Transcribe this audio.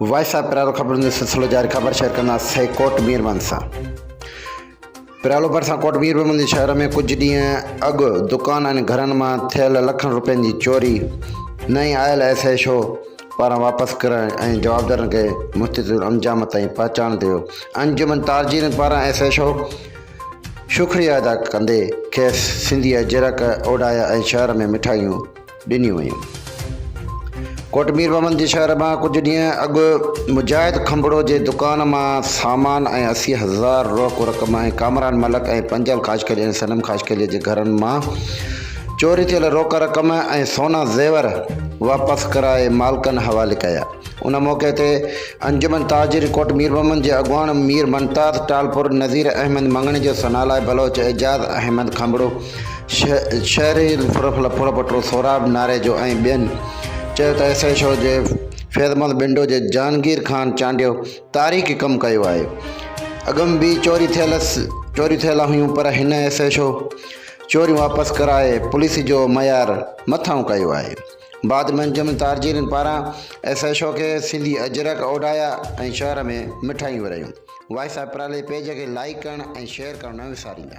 Voice of پرالو خبرن جو سلسلو جاري خبر شيئر ڪندا سي ڪوٽ مير من سان پرالو برسا ڪوٽ مير من جي شهر ۾ ڪجهه ڏينهن اڳ دڪان ۽ گهرن مان ٿيل لکن روپين جي چوري نئين آيل ايس ايش او پاران واپس ڪرڻ ۽ جوابدارن کي مستطيل انجام تائين پهچائڻ تي انجمن تارجين پاران ايس ايڇ او شڪريا ادا ڪندي کيس سنڌي اجرڪ اوڍايا ۽ شهر ۾ مٺايون ڏنيون ويون. ڪوٽ مير محمد جي شهر مان ڪجهه ڏينهن اڳ مجاهد کنڀڙو جي دڪان مان سامان ۽ اسي هزار روڪ رقم ۽ ڪامران ملڪ ۽ پنجل خاشقلي ۽ صنم خاشقلي جي گهرن مان چوري ٿيل روڪ رقم ۽ سونا زيور واپس ڪرائي مالڪن حوالي ڪيا. ان موقعي تي انجمن تاجر ڪوٽ ميربحمد جي اڳواڻ مير ممتاز ٽالپر، نذير احمد مڱڻيجو، ثنالاء بلوچ، اعجاز احمد کانڀڙو، شهري الفرفلا ڦڙپٽو، سهراب ناريجو ۽ ٻين چيو ته ايس ايڇ او جي فيضمحمد بنڊو جي جهانگير خان چانڊيو تاريخي ڪم ڪيو آهي. اڳم به چوري ٿيل چوريون ٿيل هيون پر هن ايس ايڇ او. چوريون واپس ڪرائي پوليس جو معيار مٿانهون ڪيو آهي. بعد ۾ انجمن تارجيرين پاران ايس ايڇ او کي سنڌي اجرڪ اوڍايا ۽ شهر ۾ مٺايون ورهايون. وائس آف پرالي پيج کي لائيڪ ڪرڻ ۽ شيئر ڪرڻ نه وساريندا.